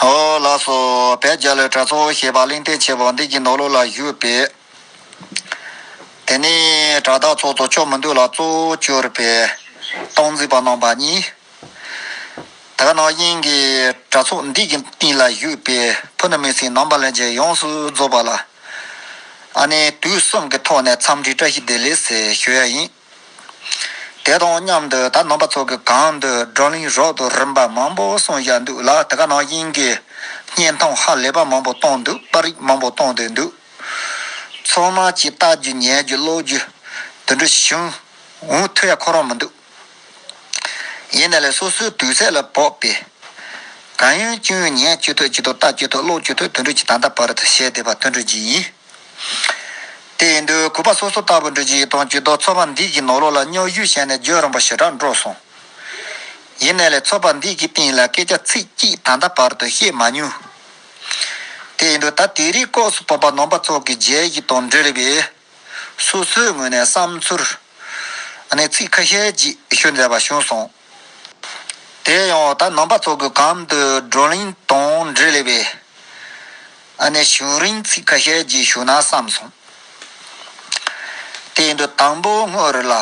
ཧོ། ལ་སོགས་བལ་རྒྱ་ལོའི་གྲྭ་ཚོ་ཞེས་པ་གླིང་སྟེང་ཆེ་བ་འདི་གྱི་ནོར་ལུག་ལ་བཞུགས་པས། དེ་ནས་གྲྭ་བདག་ཚོགས་གཙོ་མཆོག་མི་འདུག་ལ་གཙོ་བོ་གྱུར་པས་སྟོང་རྩིས་པ་གནང་བ་གཉིས། དག་སྣང་དབྱིངས་ཀྱི་གྲྭ་ཚོགས་འདི་གྱི་སྟེང་ལ་བཞུགས་པས་ཕུ་ནུ་མི་སྲིང་ནང་པ་ལན་ཅིག་ཡོངས་སུ་རྫོགས་པ་ལ། ཨ་ནེ་དུས་གསུམ་གྱི་ཐོག་ནས་འཚམས་འདྲི་བཀྲ་ཤིས་བདེ་ལེགས་ཞེས་ཞུ་ཡ་ཡིན། དེ་དང་མཉམ་དུ་ད་ནང་པ་ཚོ་གི་གང་འདོད་བགྲོ་གླེང་རོགས་དུ་རིམ་པ་མང་པོ་གསུང་བཞག་འདུག་ལ་དེ་ག་ནང་བཞིན་གྱི་བརྙན་ཐུང་ཧ་ལས་པ་མང་པོ་བཏང་འདུག་པར་རིགས་མང་པོ་བཏང་སྡོད་འདུག་ཚང་མ་གྱིས་ལྟ་རྒྱུ་ཉན་རྒྱུ་ཀློག་རྒྱུ་དུད་འགྲོ་བྱུང་འུ་ཐུག་ཡ་ཁོ་རང་མི་འདུག་ཡིན་ན་ལས་སོ་སོའི་དུས་ཚད་ལ་བབ་པས་གང་ཡོན་ཅི་ཡོན་ཉན་ཅི་ཐུབ་ཅི་ཐུབ་ལྟ་ཅི་ཐུབ་ཀློག་ཅི་ཐུབ་དུད་འགྲོ་གྱི་ད་ལྟ་བར་དུ་བྱས་བསྡད་པ་དུད་འགྲོ་གྱི་ཡིན། དེ་ཡིན་དུས་གུས་པ་སོ་སོ་ལྟ་བུ་འདྲུད་རྗེས་དང་བྱུས་གཏོགས་ཚོ་པ་འདིས་ཀྱི་ནོར་ལོག་ལ་སྨྱོ་གཞུ་བཤད་ནས་བརྗོད་རུང་པ་ཞེ་དྲག་འགྲོ་སོང། ཡིན་ནས་ལས་ཚོ་པ་འདིས་ཀྱི་སྟེང་ལ་སྐད་ཆ་ཚིག་གཅིག་ད་ལྟ་བར་དུ་བཤད་མ་མྱོང། དེ་ཡིན་དུས་ད་དེ་རིགས་ལྐོགས་སུ་བོད་པ་ནོམ་པ་ཚོགས་ཀྱི་རྗེས་གཞི་དང་འབྲེལ་བའི། སོ་སོའི་ངོས་ནས་བསམ་ཚུལ། ནས་ཚིག་ཁ་ཤས་ཅིག་ཞུ་མཛད་པ་བྱུང་སོང། དེ་ཡང་འོག་དང་ནང་པ་ཚོགས་ཀྱི་གམ་དུ་བགྲོ་གླེང་དང་འབྲེལ་ལས་པའི་ཨ་ནེ་ཞུ་རིན་ཚིག་ཁ་ཤས་རྗེས་ཞུ་ན་བསམ་སོང། དེའི་འདུག་དང་པོ་དངོས་རེད་ལ།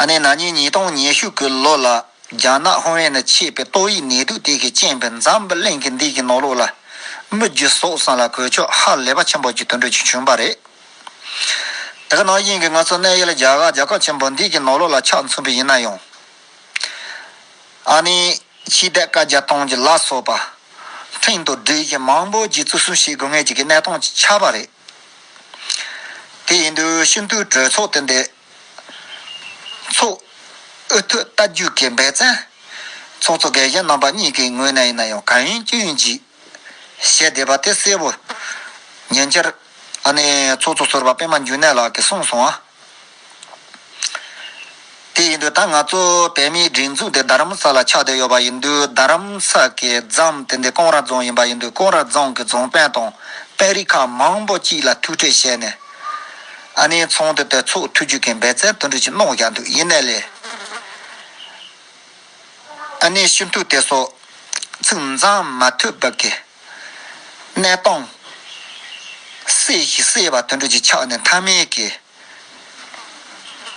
ཨ་ནེ་ན་ཉིན་ཉིས་སྟོང་ཉི་ཤུ་གི་ལོ་ལ་རྒྱ་ནག་ཧོང་ཝེན་ནས་མཆེད་པའི་ཏོག་དབྱིབས་ནད་དུག་དེ་གི་རྐྱེན་པས་འཛམ་བུ་གླིང་གི་འདི་གི་ནོར་ལུག་ལ་མི་རྒྱུ་ཟོག་ཟན་ལ་གོས་ཆོག་ཧ་ལས་པ་ཆེན་པོ་གྱི་དུད་འགྲོ་ཅིག་བྱུང་པ་རེད། དེ་ག་ནང་བཞིན་གྱི་ང་ཚོ་གནས་ཡུལ་རྒྱ་གར་རྒྱལ་ཁབ་ཆེན་པོ་འདི་གྱི་ནོར་ལུག་ལ་ཕྱག་མཚོན་པ་ཡིན་ན་ཡང། ཨ་ནི། ཕྱིའི་རྡེལ་དཀར་བརྒྱ་སྟོང་གི་ལ་སོགས་པ། འཕྲིན་དང་སྒྲིག་གཞི་མང་པོ་བརྒྱུད་བཙུགས་གསུམ་བྱེད་དགོས་ངེས་ཀྱི་གནས་སྟངས་ཆགས་པ་རེད། དེ་ཡིན་དུས་ཤིན་ཏུའི་གྲོས་ཚོགས་དེ་འདས། ཚོགས། ཨུ་ཐུག་ལྟ་རྒྱུགས་ཀྱི་འབད་བརྩོན། ཚོགས་གཙོ་འགས་གཞན་རྣམ་པ་གཉིས་ཀྱི་ངོས་ནས་ཡིན་ན་ཡང་གང་ཡིན་ཅི་ཡིན་བརྗིད། བཤད་བསྡད་པ་དེ་གསལ་བོ། ཉན་ཅེར། ཨ་ནེ། ཚོགས་གཙོ་ཟུར་བ་པད་མ་འགྱུར་གནས་ལགས་ཀྱིས་གསུངས་སོང་ཨ། དེ་ཡིན་དུས་ད་ང་ཚོ་བོད་མིའི་སྒྲིག་འཛུགས་དེ་རྡ་རམ་ས་ལ་ཆགས་བསྡད་ཡོད་པ་ཡིན་དུས་རྡ་རམ་ས་ཀྱི་རྫམ་དེ་འདི་ཀོང་ར་རྫོང་ཡིན་པ་ཡིན་དུས་ཀོང་ར་རྫོང་གི་རྫོང་དཔོན་དང་དཔོན་རིགས་ཁག་མང་པོ་གཅིག་ལ་ཐུག་འཕྲད་བྱས་ནས། ཨ་ནེའི་ཚོང་དོན་ཐད་ཚོགས་འཐུས་རྒྱུག་མཁན་འབད་རྩལ་དོན་འགྲུབ་ཀྱིས་གནང་བཞག་འདུག་ཡིན་ནའི་ལས། ཨ་ནེ་ཤིན་ཏུ་དེ་སོགས་ཚིག་མཛངས་མ་ཐོས་བབས་ཀྱི། གནས་སྟངས། སྲས་ཞིག་སྲས་པ་དུད་འགྲོ་ཅིག་ཆགས་ནས་མཐའ་མེད་ཀྱི།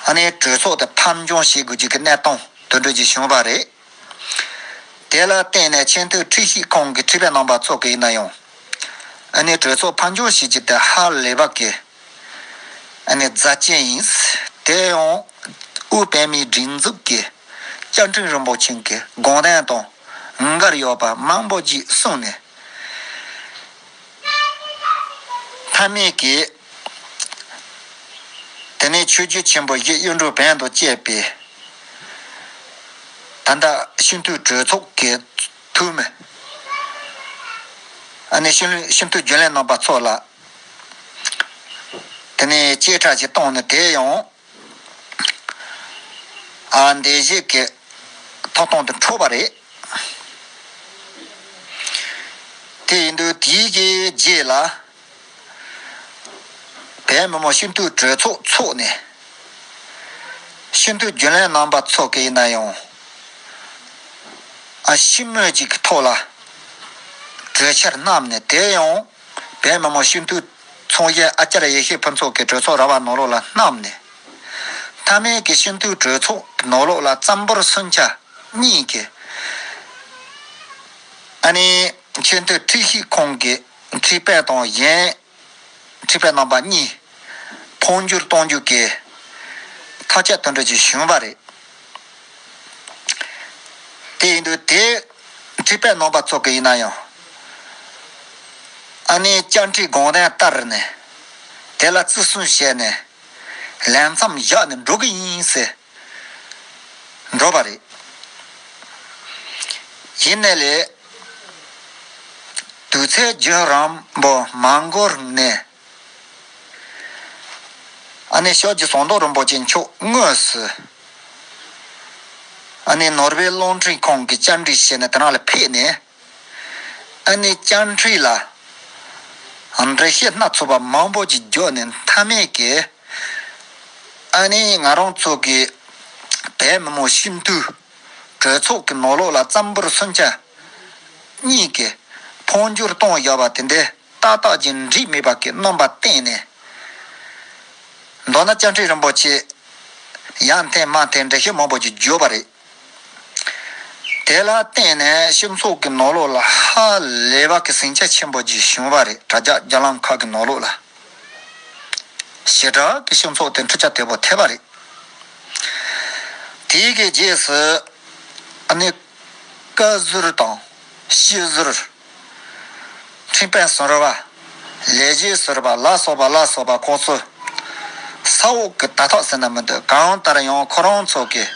ཨ་ནེའི་གྲོས་ཚོགས་དེ་ཕམ་འབྱུང་བྱེད་དགོས་ཀྱི་གི་གནས་སྟངས་དུད་འགྲོ་ཅིག་བྱུང་བ་རེད། དེ་ལ་བརྟེན་ནས་ཆེས་མཐོའི་ཁྲི་ཤིས་ཁང་གི་ཁྲི་པའི་རྣམ་པ་ཚོགས་ཀྱི་ཡིན་ན་ཡང། ཨ་ནེའི་གྲོས་ཚོགས་ཕམ་འབྱུང་བྱེད་ཀྱི་དེ་ཧ་ལས་བབས་ཀྱི། རྫ་ཅན་ཡིན། དེ་ཡང་དབུས་པད་མའི་སྒྲིག་འཛུགས་ཀྱི་བཅའ་ཁྲིམས་རིན་པོ་ཆེ་གི་དགོངས་དོན་དང་ངོས་འགལ་ཡོད་པ་མང་པོ་ཞིག་གསུངས་ནས། མཐའ་མེད་ཀྱིས་དེ་ནས་ཆོས་རྒྱུད་ཆེན་པོ་བཞི་གཡུ་འབྲུག་བན་དུ་བཅས་པས། ད་ལྟ་ཤིན་ཐུའི་གྲོས་ཚོགས་ཀྱི་འཐུས་མི། ཤིན་ཐུའི་རྒྱུན་ལས་རྣམ་པ་ཚོ་ལ། དེ་ནས་བྱེ་བྲག་གི་སྟོང་ནི་དེ་ཡང། འདས་བྱས་ཀྱི་ཐོག་སྟོང་དུ་འཕྲོ་བ་རེད། དེ་ཡིན་དུས་དེའི་གི་རྗེས་ལ། བལ་མི་མོ་ཤིན་ཏུའི་གྲོས་ཚོགས་ཚོགས་ནས། ཤིན་ཏུའི་རྒྱུན་ལས་རྣམ་པ་ཚོགས་ཀྱི་ཡིན་ན་ཡང། ཤིང་རྨོད་ཅིག་གི་ཐོག་ལ། གྲོས་འཆར་བསྣམས་ནས་དེ་ཡང། བའི་མ་མོ་ཤིན་ཏུ་མཚུངས་གཞན་ཨ་ཀྱཱ་ར་ཡེ་ཤེས་ཕུན་ཚོགས་ཀྱི་གྲོས་ཚོགས་ར་བ་ནོར་ལོག་ལ་བསྣམས་ནས། ཐ་མལ་གྱི་ཤིན་ཏུའི་གྲོས་ཚོགས་ནོར་ལོག་ལ་བརྩམས་པོར་སུན་ཆ་གཉིས་ཀྱི། ཨ་ནི། ཆེན་ཏུ་ཁྲིད་ཤིག་ཁོང་གི་ཁྲིད་དཔལ་དང་གཞན། ཁྲིད་དཔལ་རྣམ་པ་གཉིས། འཕོ་འགྱུར་གཏོང་རྒྱུ་གའི། ཐག་བཅད་དོན་གྲོས་ཀྱི་བྱུང་བ་རེད། དེ་ཡིན་དུས་དེའི། བྲིས་པའི་ནོངས་པ་བཙོག་གི་ཡིན་ན་ཡང། ཨ་ནེའི་བཅར་འདྲིའི་དགོངས་དོན་ལྟར་ནས། དེ་ལ་བརྩི་སྲུང་བྱས་ནས། ལས་མཚམས་བཞག་ནས་འགྲོ་གི་ཡིན་ཟེར། འགྲོ་བ་རེད། ཡིན་ནས་ལས། དུས་ཚོད་རྒྱུན་རིང་པོ་མ་འགོར་ནས། ཨ་ནེ་ཤོག་ཅིག་ཟོང་དོག་རིན་པོ་ཆེ་མཆོག་དངོས་སུ། ཨ་ནེ་ནོར་བྷེལ་རླུང་འཕྲིན་ཁང་གི་བཅར་འདྲི་བྱས་ནས་དེ་རང་ལ་ཕེབས་ནས། ཨ་ནེའི་བཅར་འདྲི་ལ། འགྲེལ་བཤད་སྣ་ཚོགས་པ་མང་པོ་ཅིག་འཇོག་ནས་མཐའ་མེད་ཀྱི། ཨ་ནེ་ང་རང་ཚོ་གི་བལ་མི་མོ་ཤིན་ཏུ། གྲོས་ཚོགས་ཀྱི་ནོར་ལོག་ལ་བརྩམས་པོར་སུན་ཆ། གཉིས་ཀྱི། འཕོ་འགྱུར་གཏོང་བཞག་པ་དེ་འདྲའི། རྟག་རྟག་ཅིང་འགྲིགས་མེད་པ་གྱི་སྣོམ་པ་བསྟན་ནས། མདོར་ན་བཅའ་ཁྲིམས་རིན་པོ་ཆེ་ཡང་འཐེན་མ་འཐེན་འགྲེལ་བཤད་མང་པོ་ཞིག་བརྗོད་པ་རེད། དེ་ལ་བརྟེན་ནས་ཤིང་ཚོགས་ཀྱི་ནོར་ལོག་ལ་ཧ་ལས་པ་གྱི་ཟིང་ཆ་ཆེན་པོ་ཞིག་བྱུང་བ་རེད་དྲ་རྒྱ་རྒྱ་ལམ་ཁག་གི་ནོར་ལོག་ལ། ཞེ་དྲག་གི་ཤིང་ཚོགས་དེ་འཕྲུལ་ཆ་དེ་བོ་ཐེབས་པ་རེད། དེའི་གི་རྗེས་སུ་ནི། བཀའ་ཟུར་དང་ཤིས་ཟུར། འཁྲིག་པའི་ཟོར་བ། ལས་བྱེད་ཟོར་བ་ལ་སོགས་པ་ལ་སོགས་པ་ཁོག་ཚོལ། ས་འོག་གི་དར་ཐག་ཟེར་ན་མི་འདོད་གང་ལྟར་ཡང་ཁོ་རང་ཚོ་གི།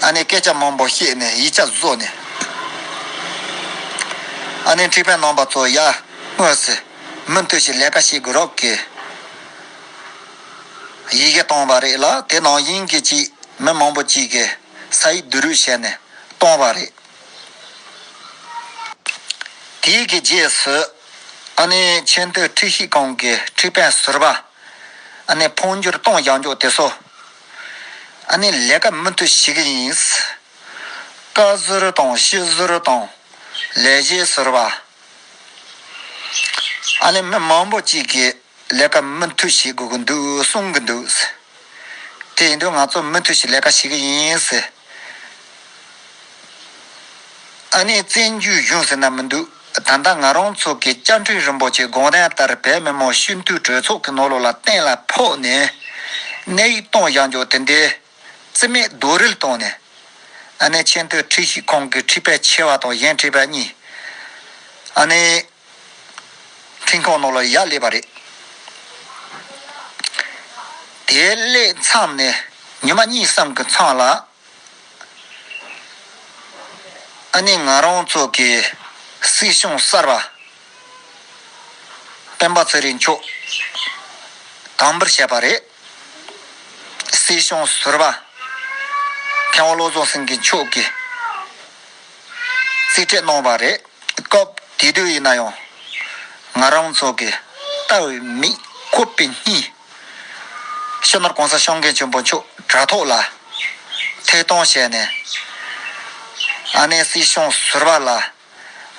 ཨ་ནེ་སྐད་ཆ་མང་པོ་བཤད་ནས་ཡིད་ཆ་བཟོ་ནས། ཨ་ནེ་འཁྲིག་པའི་ནང་པ་ཚོ་ཡར་དངོས་སུ་མུ་མཐུད་ཞིག་ལས་ཀ་བྱེད་དགོས་རོགས་གི། ཡི་གེ་བཏང་བ་རེད་ལ་དེ་ནང་དབྱིན་གྱི་ཅིག་མི་མང་པོ་ཅིག་གི་ས་ཡིག་བསྡུ་རུག་བྱས་ནས་བཏང་བ་རེད། དེའི་གི་རྗེས་སུ། ཨ་ནི་ཆེས་མཐོའི་ཁྲིད་གཞིས་ཁང་གི་ཁྲིད་དཔོན་ཟུར་པ། ཨ་ནི་འཕོ་འགྱུར་གཏོང་བཞག་འཇོག་དེ་སོ། ཨ་ནི་ལས་ཀ་མུ་མཐུད་བྱེད་གི་ཡིན། བཀའ་ཟུར་དང་སྤྱི་ཟུར་དང། ལས་བྱེད་ཟུར་པ། ཨ་ནི་མི་མང་པོ་གཅིག་གིས། ལས་ཀ་མུ་མཐུད་བྱེད་དགོས་ཀྱི་འདུག་གསུང་གི་འདུག། དེ་ཡིན་དུས་ང་ཚོ་མུ་མཐུད་ཀྱི་ལས་ཀ་བྱེད་ཀྱི་ཡིན། ཨ་ནེ་བཙན་བྱོལ་གཞུང་ཟེར་ན་མི་འདུག་ད་ལྟ་ང་རང་ཚོ་གི་བཅའ་ཁྲིམས་རིན་པོ་ཆེ་དགོངས་དོན་ལྟར་བོད་མི་མང་སྤྱི་འཐུས་གྲོས་ཚོགས་ཀྱི་ནོར་ལུག་ལ་གཏན་ལ་ཕོག་ནས། གནས་ཡིག་གཏོང་བཞག་འཇོག་དེ་འདྲའི། རྩིས་མེད་རྡོག་རིལ་གཏོང་ནས། ཨ་ནེ་ཆེ་མཐོའི་ཁྲིད་ཤིག་ཁོང་གི་ཁྲིད་པས་ཆེ་བ་དང་གཞན་ཁྲིད་པས་གཉིས། ཨ་ནེ། འཕྲིན་ཐོག་ནོར་ལ་ཡག་སླེབས་པ་རེད། དེ་སླེབས་མཚམས་ནས་ཉི་མ་གཉིས་སམ་གི་མཚམས་ལ། ཨ་ནེ་ང་རང་ཚོ་གི་སྲིད་གཞུང་གསར་པ། སྤེན་པ་ཚེ་རིང་མཆོག་དམ་འབུལ་བྱས་པ་རེད། སྲིད་སྐྱོང་ཟུར་བ་མཁས་དབང་བློ་བཟང་སེང་གེ་མཆོག་གིས་གཙིགས་ཆེད་གནང་བ་རེད། སྐབས་དེ་དུས་ཡིན་ན་ཡང། ང་རང་ཚོ་གི་ལྟ་བའི་མི་ཁོ་པེ་གཉིས། ཤོ་ནོར་གོང་ས་ཤང་ཀན་ཆེན་པོ་མཆོག་དྲ་ཐོག་ལ་ཐད་གཏོང་བྱས་ནས། ཨ་ནེ་སྲིད་སྐྱོང་ཟུར་བ་ལ་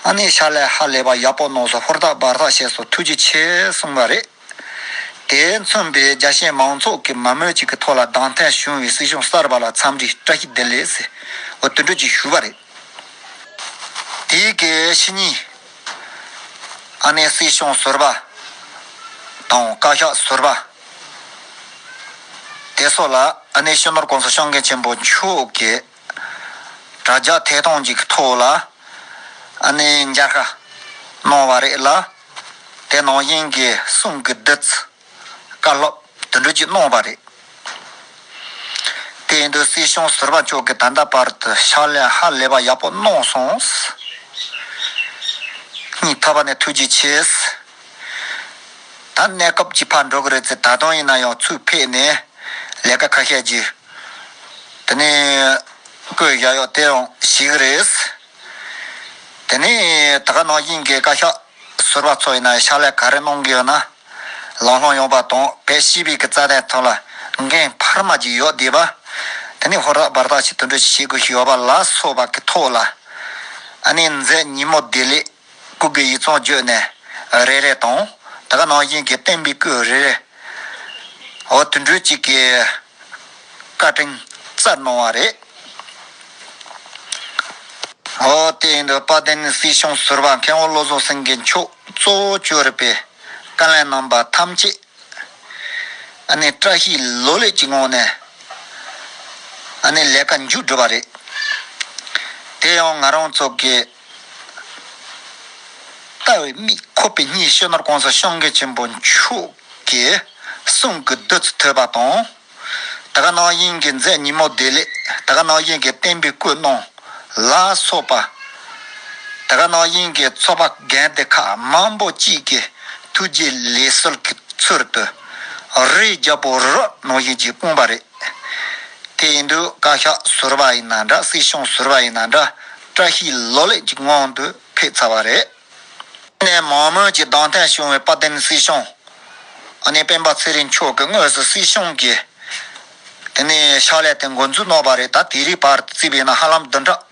ཨ་ནེ་ཤ་ལས་ཧ་ལས་པ་ཡག་པོ་ནོག་སོ་ཧོར་ཐག་འབར་ཐག་བཤད་སོ་ཐུགས་རྗེ་ཆེ་གསུངས་པ་རེད་དེ་མཚོན་པའི་རྒྱ་ཤེས་མང་ཚོགས་ཀྱི་མ་མོས་ཅིག་གི་ཐོག་ལ་གདང་ཐད་བྱུང་བའི་སྲིད་གཞུང་གསར་པ་ལ་འཚམས་འདྲི་བཀྲ་ཤིས་བདེ་ལེགས་སིོ་དུད་འགྲོ་ཅིག་ཞུ་བ་རེད་དེ་གའི་ཕྱི་ཉིན་ཨ་ནེ་སྲིད་གཞུང་ཟུར་པ་དང་བཀའ་ཤག་ཟུར་པ་དེ་སོགས་ལ་ཨ་ནེ་ཤི་ནོར་ཀོང་སོ་ཤང་མཁན་ཆེན་པོ་མཆོག་གིས། དྲ་རྒྱ་ཐད་གཏོང་གཅིག་གི་ཐོག་ལ་གནས་མཇལ་ཁ་གནང་བ་རེད་ལ། དེ་ནང་བཞིན་གྱི་གསུང་གི་བདུད་རྩི་བཀའ་སློབ་དུད་འགྲོ་གཅིག་གནང་བ་རེད། དེ་ཡིན་དུས་སྲིད་གཞུང་ཟུར་པ་མཆོག་གིས་ད་ལྟ་བར་དུ་ཕྱག་ལས་ཧ་ལས་པ་ཡག་པོ་གནང་སོང། གཉིས་ཐ་བ་ནས་ཐུགས་རྗེ་ཆེ། ད་གནས་སྐབས་ཀྱི་ཕར་འགྲོ་གི་རེད་ཚེ་ད་དུང་ཡིན་ན་ཡང་ཚུར་ཕེབས་ནས་ལས་ཀ་ཁ་ཤས་རྒྱུ། དེ་ནས་སྐུ་ཡི་གཡག་གཡོག་དེའང་ཞི་གི་རེད། དེ་ནས་ད་ག་ནང་བཞིན་གྱི་བཀའ་ཤག་ཟུར་བ་ཚོ་ཡིན་ན་ཕྱག་ལས་ག་རེ་གནང་གི་ཡོད་ན། ལང་ལྷོང་ཡོང་པ་དང་བེད་ཤེས་བེད་ཀྱི་རྩ་དེ་ཐོན་ལ་འགན་འཕར་མ་ཅིག་ཡོད་དེ་བ། དེ་ནས་ཧོར་ཟླ་བར་ཐག་ཅིག་དུད་འགྲོ་ཞིག་བྱེད་དགོས་ཞིག་ཡོད་པ་ལ་སོགས་པ་གི་ཐོག་ལ། ཨ་ནེ་མཛད་ཉིན་མོ་བདེ་ལེགས། སྐུ་དགེ་ཡིག་ཚང་བརྗོད་ནས་རེ་རེ་དང། དེ་ག་ནང་བཞིན་གྱི་བསྟན་པའི་སྐུ་རེ་རེ། འོ་དུད་འགྲོས་གཅིག་གིས་བཀའ་དྲིན་བསྩལ་གནང་བ་རེད། འོ་དེ་ཡིན་དུས་དཔལ་ལྡན་སྲིད་སྐྱོང་ཟུར་བ་མཁན་དབང་བློ་བཟང་སེང་གེ་མཆོག་གཙོ་བོ་བཅོས་རིག་པའི་བཀའ་ལན་གནང་པ་ཐམས་ཅད་ཨ་ནི་བཀྲ་ཤིས་ལོ་ལེགས་ཀྱི་ངང་ནས་ཨ་ནི་ལས་ཀ་མཇུག་བསྒྲུབས་པ་རེད། དེ་ཡང་ང་རང་ཚོ་གི། ལྟ་བའི་དམིགས་ཁོ་པའི་གཉིས་ཤེས་ནོར་གོང་ས་ཤོང་གེ་ཆེན་པོ་མཆོག་གིས་གསུང་གི་བདུད་རྩི་ཐོད་པ་དང། ད་ག་ནང་བཞིན་གྱི་མཛད་ཉིན་མོ་བདེ་ལེགས་ད་ག་ནང་བཞིན་གྱི་བསྟན་པའི་སྐུ་སྣང་ལ་སོགས་པ། ད་ག་ནང་བཞིན་གྱི་ཚོགས་པ་རྒན་དེ་ཁག་མང་པོ་གཅིག་གི་ཐུགས་རྗེ་ལས་གསོལ་གྱི་ཚུལ་དུ། རིའི་རྒྱལ་པོ་རོ་ནང་བཞིན་གྱི་དཔུང་པ་རེད། དེ་ཡིན་དུས་བཀའ་ཤག་ཟུར་བ་ཡིན་ན་འདྲ་སྲིད་གཞུང་ཟུར་བ་ཡིན་ན་འདྲ་བཀྲ་ཤིས་ལོ་ལེགས་ཀྱི་ངང་དུ་ཕེབས་ཚར་བ་རེད། གནས་མང་མོས་ཀྱི་གདང་ཐད་བྱུང་བའི་དཔལ་ལྡན་སྲིད་གཞུང། ཨ་ནེ་སྤེན་པ་ཚེ་རིང་མཆོག་གི་དངོས་སུ་སྲིད་གཞུང་གི། དེ་ནས་ཕྱག་ལས་དེ་འགོ་འཛུགས་གནང་བ་རེད་ད་དེ་རིང་བར་བརྩིས་པས་ན་ཧ་ལམ་བདུན་ཕྲག།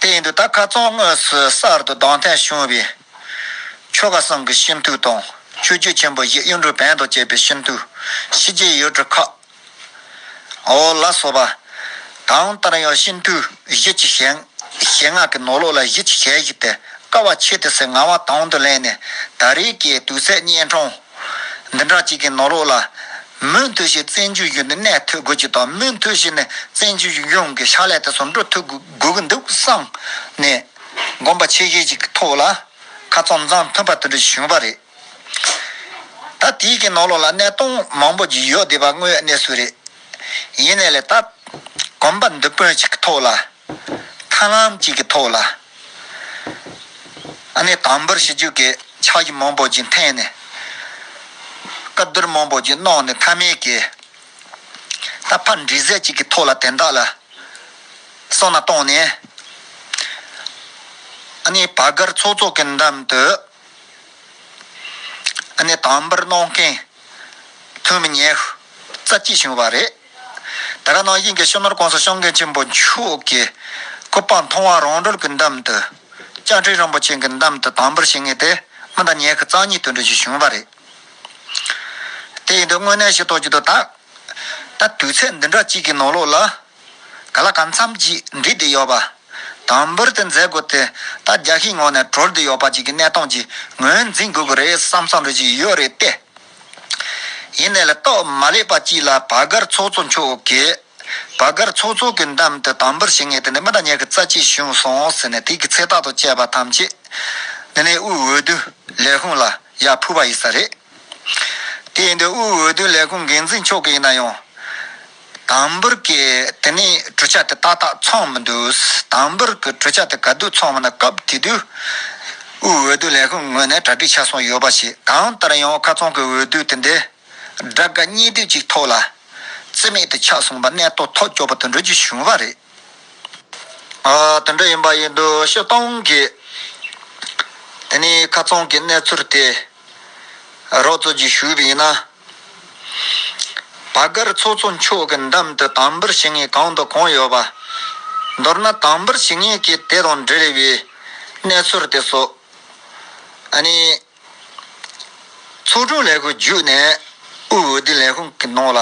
དེ་ཡིན་དུས་ད་ཁ་ཙོང་ངོས་སུ་གསར་དུ་གདོང་ཐད་བྱུང་བའི། ཆོ་ག་བཟང་གི་ཤིན་ཏུའུ་དང་ཆོས་རྒྱུད་ཆེན་པོ་བཞི་གཡུ་འབྲུག་བན་དང་བཅས་པའི་ཤིན་ཏུའུ། ཕྱི་རྒྱལ་ཡུལ་གྲུ་ཁག། ཨོ་ལ་སོ་པ། དང་ལྟར་ཡང་ཤིན་ཏུའུ་བཞི་ཆུ་ཞེང། ཞེ་ལྔ་གི་ནོར་ལུག་ལ་བཞི་ཆུ་ཞལ་བཞི་སྟེ་ཀ་བ་ཕྱེད་དུ་སའི་ང་བ་དང་དུ་ལེན་ནས་ད་རེས་ཀྱི་དུས་ཚད་གཉན་འཕྲང་འདི་འདྲ་གཅིག་གི་ནོར་འོག་ལ། མུན་ཐོད་བཞིན་བཙན་བྱོལ་གཞུང་དེ་གནས་ཐོད་རྒོད་ཅིག་དང་མུན་ཐོད་བཞིན་ནི་བཙན་བྱོལ་གཞུང་གི་ཕྱག་ལས་དེ་ཟུར་འགྲོ་ཐོད་རྒོད་གི་འདུག་བསམ་ནས། དགོངས་པ་ཆེ་ཤོས་ཅིག་གི་ཐོག་ལ། ཁ་ཙོམ་ཙམ་ཐོན་པ་དེ་འདྲ་ཞིག་བྱུང་བ་རེད། ད་དེའི་གི་ནོར་ལོག་ལ་གནས་སྟངས་མང་པོ་ཞིག་ཡོད་བསྡད་པ་དངོས་གནས་སུ་རེད། ཡིན་ནས་ལས་ད། གོམ་པ་མདུན་དཔོན་ཞིག་གི་ཐོག་ལ། མཐའ་ལམ་གཅིག་གི་ཐོག་ལ། དམ་འབུལ་ཞུ་རྒྱུ་གི་ཕྱག་བཞི་མང་པོ་ཅིག་འཐེན་ནས། བཀའ་བསྡུར་མང་པོ་ཅིག་གནང་ནས་མཐའ་མའི་གི། ད་ཕར་འདྲི་གཟས་གཅིག་གི་ཐོག་ལ་དེ་དག་ལ། སོང་ན་བཏང་ནས། བར་སྒར་ཚོགས་གཙོ་གི་འགྲམ་དུ། དམ་འབུལ་གནང་མཁན། ཐོན་མི་ཉེ་རྩ་གཅིག་བྱུང་བ་རེད། ད་ར་ནང་དབྱིངས་ཀྱི་ཤུལ་ནོར་ཀོང་ས་ཤོང་མཁན་ཆེན་པོ་མཆོག་གི། སྐུ་སྤངས་མཐོང་བ་རང་གྲོལ་གྱི་འདམ་དུ། སྤྱན་འདྲེན་རིན་པོ་ཆེན་གྱི་འདམ་དུ་དང་པོར་བྱེད་ངེས་ཏེ། སྔོན་དང་ཉེ་གི་རྩ་གཉིས་དོན་འགྲེལ་ཞིག་བྱུང་བ་རེད། དེ་ཡིན་དུས་དངོས་གནས་ཤེས་རྟོགས་བགྱིད་དུ་ཐག། ད་དུས་ཚད་འདི་འདྲ་གཅིག་གི་ནང་ལོགས་ལ། ག་ལ་ག་མཚམས་ཀྱིས་འདྲིས་དེ་ཡོད་པ། དང་པོར་དེ་མཛད་དགོས་ཏེ་ད་རྒྱ་ཤིང་ངོགས་ནས་གྲོལ་དེ་ཡོད་པ་གཅིག་གི་གནས་སྟངས་ཀྱིས་ངོས་འཛིན་དགོས་ཀྱི་རེད་བསམ་བསམ་རེ་བགྱིས་ཡོད་རེད་དེ། ཡེ་ནས་ལ་རྟོག་མ་ལས་པ་གཅིག་ལ་བག་དཀར་ཚོགས་གཙོ་མཆོག་གིས། བག་དཀར་ཚོགས་གཙོ་གི་འདམ་དུ་དམ་པོར་བྱེད་ངེས་དེ་ནས་མི་དང་གཉེར་གི་རྩ་གཅིག་བྱུང་སོང་ཟེར་ནས་དུས་ཀྱི་ཚེ་རྟག་ཏུ་བཅད་པ་ཐམས་ཅད། འདི་ནས་དབུས་འོས་བསྡུ་ལས་ཁུངས་ལ་ཡར་ཕུལ་བ་ཡིན་ས་རེད། དེ་ཡིན་དུས་དབུས་འོས་བསྡུ་ལས་ཁུངས་འགན་འཛིན་མཆོག་གི་ཡིན་ན་ཡང། དང་པོར་གྱི་དེ་ནས་གྲུ་ཆ་དེ་ཏག་ཏག་འཚོང་མི་འདུག་དང་པོར་གྱི་གྲུ་ཆ་དེ་ག་དུས་འཚོང་བ་ན་སྐབས་དེ་དུས་དབུས་འོས་བསྡུ་ལས་ཁུངས་ངོས་ནས་གྲ་སྒྲིག་ཆ་སོང་ཡོད་པ་ཞིག་གང་ལྟར་ཡང་མཁར་རྫོང་གི་འོས་བསྡུ་དེ་འདི་དགྲ་དགའ་གཉེན་སྡུག་ཅིག་ཐོག་ལ་རྩིས་མེད་དུ་ཆགས་སོང་བ་གནས་སྟོད་ཐོག་སྐྱོ་བོ་དུད་འགྲོ་གྱི་བྱུང་བ་རེད། དེ་འདྲ་ཡིན་པ་ཡིན་དུ་ཕྱིར་གཏོང་གིས་དེ་ནས་མཁར་རྫོང་གི་གནས་ཚུལ་དེ་རོགས་རྩོད་ཅིག་ཞུས་པ་ཡིན་ན། བ་སྒར་ཚོགས་གཙོ་མཆོག་གི་འགྲམ་དུ་དང་འབུར་བྱེད་ངེས་གང་དང་གང་ཡོད་པ། མདོར་ན་དང་འབུར་བྱེད་ངེས་ཀྱི་དེ་དང་འབྲེལ་བའི་གནས་ཚུལ་དེ་སོགས། ཚོགས་དྲུང་ལས་ཁུངས་བརྒྱུད་ནས་དབུས་འོས་བསྡུ་ལས་ཁུངས་ཀྱི་ནང་ལ་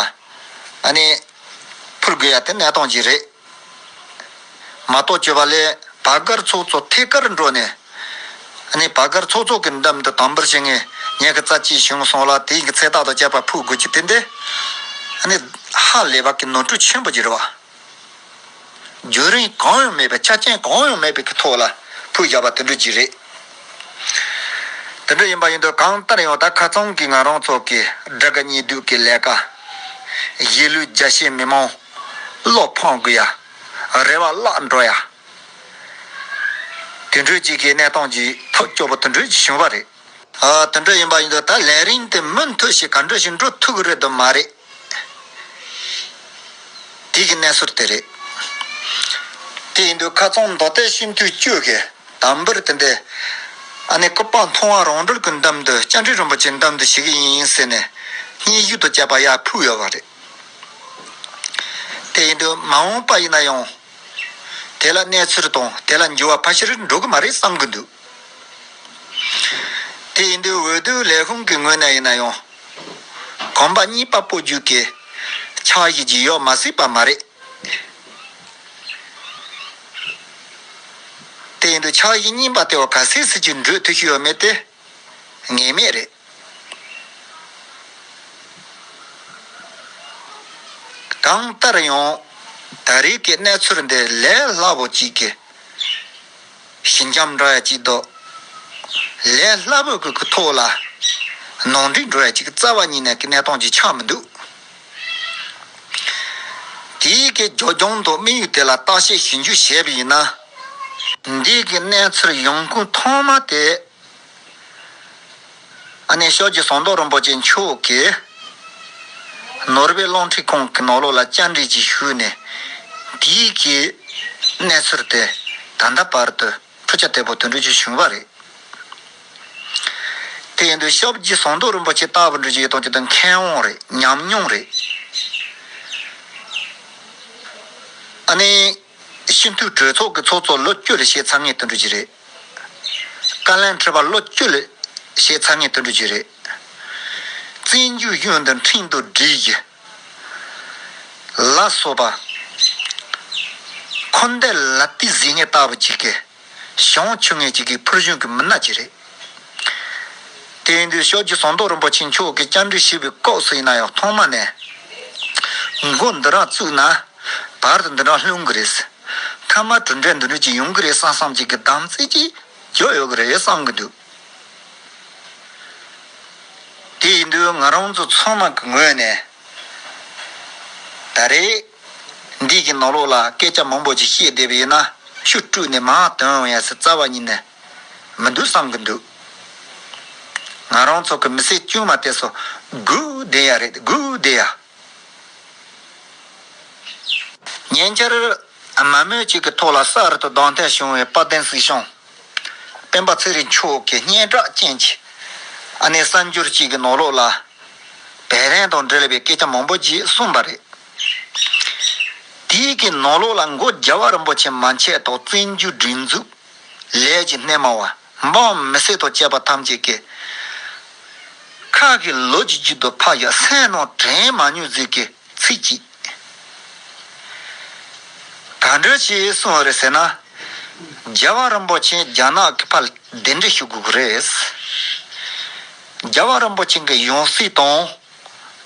ཕུལ་དགོས་ཡ་དེ་གནས་སྟངས་ཀྱི་རེད། མ་གཏོགས་བཅོས་པ་ལས་བག་སྒར་ཚོགས་གཙོ་ཐད་ཀར་འགྲོ་ནས། ནི་བག་སྒར་ཚོགས་གཙོ་གི་འདམ་དུ་དམ་འབུལ་བྱེད་ངེས་ངེས་ཀྱི་རྩ་ཆེའི་གཞུང་སོང་ལ་དེའི་གི་ཚེ་ཐག་ཏུ་བཅད་པ་ཕུལ་དགོས་ཀྱི་དེ་འདི། ནི། ཧ་ལས་པ་གི་ནོར་འཁྲུལ་ཆེན་པོ་གྱུར་བ། རྒྱུན་རིང་གང་ཡང་མེད་པའི་ཆ་རྐྱེན་གང་ཡང་མེད་པའི་གི་ཐོག་ལ་ཕུལ་བཞག་པ་དེ་འདྲུ་གྱི་རེད། དེ་འདྲུ་ཡིན་པ་ཡིན་དུས་གང་ལྟར་ཡང་ད་ཁ་ཚང་གི་ང་རང་ཚོ་གི་དགྲ་དགའ་གཉིས་སྡུག་གི་ལས་ཀ། གཞིས་ལུས་རྒྱ་ཆེའི་མི་མང། བློ་ཕོངས་དགོས་ཡ། རེ་བ་བརླག་འགྲོ་ཡ། དུད་འགྲོའི་གཅིག་གི་གནས་སྟངས་ཀྱི་ཐབས་སྐྱོ་པོ་དུད་འགྲོའི་གཅིག་བྱུང་བ་རེད། དུད་འགྲོ་ཡིན་པ་ཡིན་དུ་ད་ལན་རིང་དེ་མུ་མཐུད་ཞིག་ག་འགྲོ་ཞིག་འགྲོ་ཐུག་རེད་དུ་མ་རེད། དུས་ཀྱི་གནས་ཟུར་དེ་རེད། དེ་ཡིན་དུ་ཁ་ཚོང་མདོ་སྟེ་ཤིན་ཏུ་སྐྱོ་གི་དམ་པོར་དེ་འདི། ཨ་ནེ་ཀོ་པང་མཐོང་བ་རང་གྲོལ་གྱི་འདམ་དུ་སྤྱན་འདྲེན་རིན་པོ་ཆེ་འདམ་དུ་ཞིག་གི་ཡིན་ཡིན་ཟེར་ནས། སྙིང་གཞུག་ཏུ་བཅད་པ་ཡར་ཕུག་ཡོད་པ་རེད། དེ་ཡིན་དུས་མ་འོངས་པ་ཡིན་ན་ཡང། དེ་ལ་གནས་ཚུལ་དང་དེ་ལ་འགྱུར་བ་ཕ་ཤིར་འགྲོ་གི་མ་རེད་བསམ་གྱི་འདུག། དེ་ཡིན་དུས་འོས་བསྡུ་ལས་ཁུངས་ཀྱི་ངོས་ནས་ཡིན་ན་ཡང། གོམ་པ་གཉིས་པ་སྤོ་རྒྱུ་གལ་ཆེ་བ་ཞིག་བརྗིད་ཡོད་མ་སྲིད་པ་མ་རེད། དེ་ཡིན་དུས་ཕྱག་བཞི་གཉིས་པ་དེ་བ་ག་སེ་སེ་གཅིག་འགྲོས་ཐུགས་ཤིག་ཡོད་མེད་དེ། ངེས་མེད་རེད། གང་ལྟར་ཡང་ད་རེས་ཀྱི་གནས་ཚུལ་འདི་ལས་སླ་པོ་ཅིག་གི་ཞི་འཇམ་འགྲོ་བ་ཅིག་འདུག་ལས་སླ་པོ་གི་གི་ཐོག་ལ་ནང་འགྲིག་འགྲོ་བ་ཅིག་རྩ་བ་ཉིད་ནས་ཀྱི་གནས་སྟངས་ཅིག་ཆགས་མི་འདུག་དེའི་གི་རྒྱོ་རྒྱོང་དུ་དམིགས་ཡུལ་དེ་ལ་བརྟག་དཔྱད་ཞུ་འཇུག་བྱས་པ་ཡིན་ན། འདི་གི་གནས་ཚུལ་ཡོངས་ཀུན་མཐོང་མ་སྟེ། ཞོགས་ཀྱི་ཟོང་མདོག་རིན་པོ་ཆེ་མཆོག་གིས། ནོར་བུའི་ཀློང་ཁྲིད་ཁོང་གི་ནོར་ལུག་ལ་བཅར་འདྲི་ཅིག་ཞུས་ནས། འདི་གི་གནས་ཚུལ་དེ་ད་ལྟ་བར་དུ་འཕྲུལ་ཆ་དལ་བུར་དུ་འགྲུལ་གྱིན་བྱུང་བ་རེད། དེ་ཡིན་དུས་ཞོགས་ཀྱི་ཟོང་མདོག་རིན་པོ་ཆེ་ལྟ་བུར་འགྲུལ་གྱི་ཡོད་དོ་ཅོག་དེ་མཁས་དབང་རེད་ཉམས་མྱོང་རེད། སྤྱི་འཐུས་གྲོས་ཚོགས་ཀྱི་ཚོགས་གཙོ་ལོ་བཅུ་ལས་བྱེད་ཚང་ངེས་དོན་གྲོས་གྱི་རེད། བཀའ་བློན་ཁྲི་པ་ལོ་བཅུ་ལས་བྱེད་ཚང་ངེས་དོན་གྲོས་གྱི་རེད། བཙན་བྱོལ་གཞུང་འདི་འཕྲིན་དུ་བསྒྲིལ་གྱི། ལ་སོགས་པ། འཁོར་འདས་ལ་ཏི་ཟིག་ངས་ལྟ་བུ་གཅིག་གི། ཞང་བོ་ཆུ་ངན་གཅིག་གིས་ཕུར་གཞུང་གི་མི་སྣ་གཅིག་རེད། དེང་དུས་ཤོག་ཇུ་ཟངས་མདོག་རིན་པོ་ཆེ་མཆོག་གིས་བཅར་འདྲི་ཞུས་པའི་སྐབས་སུ་ཡིན་ན་ཡང་ཐོག་མ་ནས། མགོ་འདི་རང་བཙུགས་ན། བར་དུ་འདི་རང་ལྷུང་གི་རེད། མཐའ་མར་གྲུབ་འབྲས་འདི་འདྲ་ཅིག་ཡོང་གི་རེད་བསམ་བསམ་ཅིག་གི་དམ་ཚིག་ཅིག་རྒྱོབ་ཡོད་ཀྱི་རེད་བསམ་གྱི་འདུག། དེ་ཡིན་དུས་ང་རང་ཚོ་ཚང་མ་གི་ངོས་ནས། ད་རེས། འདིས་ཀྱི་ནོར་ལུག་ལ་སྐད་ཆ་མང་པོ་ཅིག་བཤད་བསྡད་པ་ཡིན་ན་ཆུ་བཀྲུས་ནས་མ་དོན་འོང་ཡ་སི་རྩ་བ་ཉིད་ནས་མི་འདུག་བསམ་གི་འདུག། ང་རང་ཚོ་གི་མི་སེར་དཀྱུས་མ་དེ་སོ་དགུ་བསྡད་ཡ་རེད་དགུ་བསྡད་ཡ། ཉེ་འཆར་དམའ་མོས་ཅིག་གི་ཐོག་ལ་གསར་དུ་གདོང་ཐལ་བྱུང་བའི་དཔལ་ལྡན་སྲིད་གཞུང། སྤེན་པ་ཚེ་རིང་མཆོག་གི་སྙན་གྲགས་ཅན་གྱི་ཨ་ནེ་གསར་འགྱུར་གཅིག་གི་ནོར་ལོག་ལ། བེ་རན་དང་འབྲེལ་བའི་སྐད་ཆ་མང་པོ་ཞིག་གསུངས་པ་རེད། དེའི་གི་ནོར་ལོག་ལ་མགོ་རྒྱ་བ་རིན་པོ་ཆེ་མ་འཆད་ཐོག་བཙན་བྱོལ་སྒྲིག་འཛུགས་ལས་ཀྱི་སྣེ་མང་བ་འབངས་མི་སེར་དང་བཅས་པ་ཐམས་ཅད་ཀྱི་ཁ་གི་ལོ་རྒྱུས་རྒྱུད་དུ་ཕ་ཡི་སེམས་ནང་དྲན་མ་མྱོས་ཟིག་གི། ཚིག་གཅིག། ག་འདྲོད་ཅེས་གསུང་བ་རེད་ཟེར་ན། རྒྱལ་བ་རིན་པོ་ཆེ་རྒྱ་ནག་གི་ཕར་གདན་འདྲེན་ཞུ་དགོས་ཀྱི་རེད། རྒྱལ་བ་རིན་པོ་ཆེ་གི་ཡང་སྲིད་དང།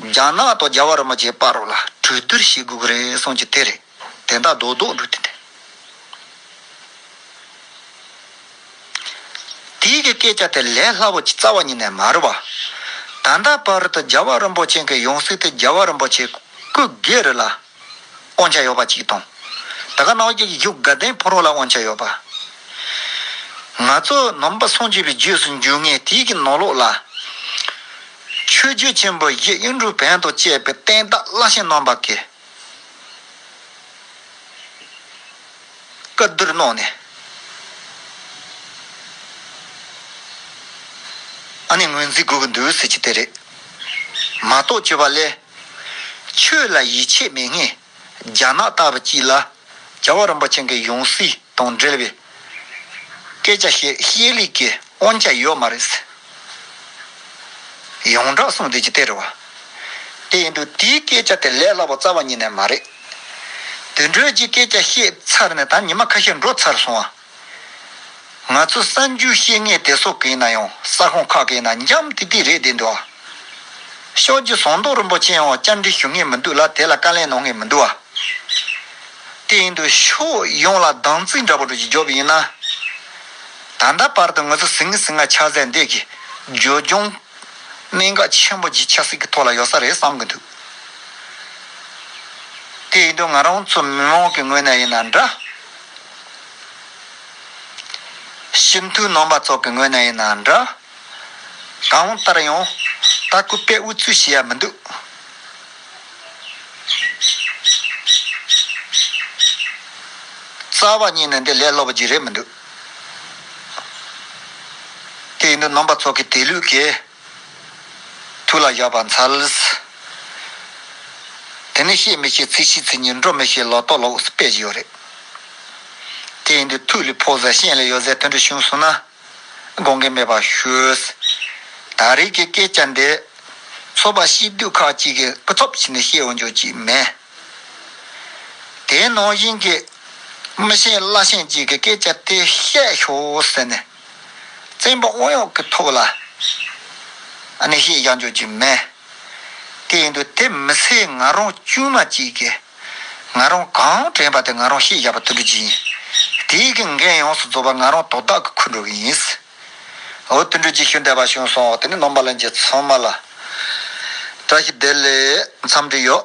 རྒྱ་ནག་དང་རྒྱལ་བ་རིན་པོ་ཆེ་པར་ལ་གྲོས་བསྡུར་བྱེད་དགོས་ཀྱི་རེད་གསུང་རྒྱུ་དེ་རེད། དེ་དག་རྡོ་རྡོག་འདྲུད་དེ། དེའི་གི་སྐད་ཆ་དེ་ལས་སླ་བོ་ཆེ་རྩ་བ་ཉིད་ནས་མར་བ། ད་ལྟ་བར་དུ་རྒྱལ་བ་རིན་པོ་ཆེན་གི་ཡོངས་གཟིགས་དེ་རྒྱལ་བ་རིན་པོ་ཆེ་སྐུ་སྒེར་རི་ལ་དབང་ཆ་ཡོད་པ་གཅིག་དང། ད་ག་ནག་རྒྱལ་གྱི་བཞུགས་དགའ་ལྡན་ཕོ་རོག་ལ་དབང་ཆ་ཡོད་པ། ང་ཚོ་ནང་པ་སངས་རྒྱས་པའི་རྗེས་སུ་འཇུག་ངེས་དེའི་གི་ནང་ལོགས་ལ། ཆོས་རྒྱལ་ཆེན་པོ་གཞི་དབྱིངས་རུ་བོན་དང་བཅས་པའི་བསྟན་བདག་བླ་ཆེན་རྣམ་པ་ཀྱི། བཀའ་བསྡུར་གནང་ནས། ཨ་ནི་ངོས་འཛིན་དགོས་ཀྱི་འདུག་ཟེར་གྱི་དེ་རེད། མ་གཏོགས་བྱས་པ་ལས། ཆོས་ལ་ཡིད་ཆེས་མེད་ངེས། རྒྱ་ནག་ལྟ་བུ་སྐྱིད་ལ། རྒྱལ་བ་རིན་པོ་ཆེན་གྱི་ཡང་སྲིད། དང་འབྲེལ་བའི་སྐད་ཆ་བཤད་ཤེས་ལུགས་ཀྱི་དབང་ཆ་ཡོད་མ་རེད། ཡོངས་གྲགས་གསུང་བསྡད་ཀྱི་སྟེར་བ་དེ་ཡིན་འདུག་དེའི་སྐད་ཆ་དེ་ལས་སླ་བོ་རྩ་བ་ཉིད་ནས་མ་རེད། དུད་འགྲོའི་སྤྱིའི་སྐད་ཆ་བཤད་ཚར་ནས་ད་ཉི་མ་ཁ་ཤས་འགྲོ་ཚར་སོང་བ། ང་ཚོ་གསར་འགྱུར་བཤད་མཁན་དེ་ཚོ་གིས་ན་ཡང་ས་ཁོངས་ཁག་གིས་ན་འཇམ་ཐིག་ཐིག་རེད་བསྡད་འདུག་ཨ། ཤོག་རྗེ་ཟངས་མདོག་རིན་པོ་ཆེ་ཡང་བཅར་འདྲི་ཞུ་ངེས་མི་འདུག་ལ་དེ་ལ་བཀའ་ལན་གནང་ངེས་མི་འདུག་ཨ། དེ་ཡིན་དུ་ཕྱོགས་ཡོངས་ལ་སྡང་བརྩི་འདྲ་པོ་དྲུག་གིས་རྒྱོབ་ཡིན་ན། ད་ལྟ་བར་དུ་ངོས་ཟིང་ངེ་ཟིང་ང་ཆགས་ཚད་འདས་ཀྱི་འཇོལ་རྒྱུང། གནད་འགག་ཆེན་པོ་གྱི་ཆབ་སྲིད་ཀྱི་ཐོག་ལ་ཡོད་ས་རེད་བསམ་གྱི་འདུག་དེ་ཡིན་དུ་ང་རང་ཚོ་མི་མང་གི་ངོས་ནས་ཡིན་ན་འདྲ། སྤྱི་འཐུས་རྣམ་པ་ཚོ་གི་ངོས་ནས་ཡིན་ན་འདྲ། གང་ལྟར་ཡང་ལྟ་སྐུལ་པས་འུ་ཚོའི་བྱས་ཡ་མི་འདུག། རྩ་བ་ཉིད་ནས་འདི་ལས་སློབ་རྒྱུ་རེད་མི་འདུག། དེ་ཡིན་དུས་རྣམ་པ་ཚོགས་ཀྱི་དེ་ལུགས་ཀྱི་ཐུགས་ལ་བཞག་པ་མཚལ། དེ་ནི་ཤེས་མི་ཤེས་ཚིག་ཤེས་ཚིག་ཉིད་འགྲོ་མི་ཤེས་ལོག་རྟོག་ལོག་སྤེལ་གྱི་ཡོད་རེད། དེ་ཡིན་དུས་ཐུགས་ལས་ཕོག་ཟེར་གཤེན་ལས་ཡོད་ཟེར་དོན་འགྲུལ་བྱུང་སོང་ན། དགོངས་འགལ་མེད་པར་ཞུས། ད་རེས་ཀྱི་སྐད་ཆ་འདི། ཚོགས་པ་ཕྱི་སྡོད་ཁག་ཅིག་གིས་སྐུ་ཚབ་བྱས་ནས་བཤད་འོང་ཆོག་ཅིག་མེད། དེའི་ནང་བཞིན་གྱི། མི་ཤེས་བླ་ཤེས་ཅིག་གིས་སྐད་ཆ་དེ་བཤད་ཞོག་ཟེར་ནས། བཙན་པོ་དབང་གཡོག་གི་ཐུགས་ལ། ནས་བཤད་བཞག་ཆོག་ཅིག་མེད། དེ་ཡིན་དུས་དེ་མི་སེར་ང་རང་དཀྱུས་མ་ཅིག་གིས། ང་རང་གང་དྲན་པ་དེ་ང་རང་ཤེས་བཞག་པ་དུ་འགྲོ་རྒྱུ་ཡིན། དེ་ཡི་གི་འགན་ཡོངས་སུ་རྫོགས་པ་ང་རང་དོ་བདག་གི་ཁུར་འགྲོ་གི་ཡིན། འོ་དུད་འགྲོ་རྗེས་ཤུལ་འདྲ་པ་བྱུང་སོང་དེ་ནི་ནོམ་པ་ལ་འགྱེད་ཚོང་མ་ལ། བཀྲ་ཤིས་བདེ་ལེགས་མཚམས་འདྲི་ཡོད།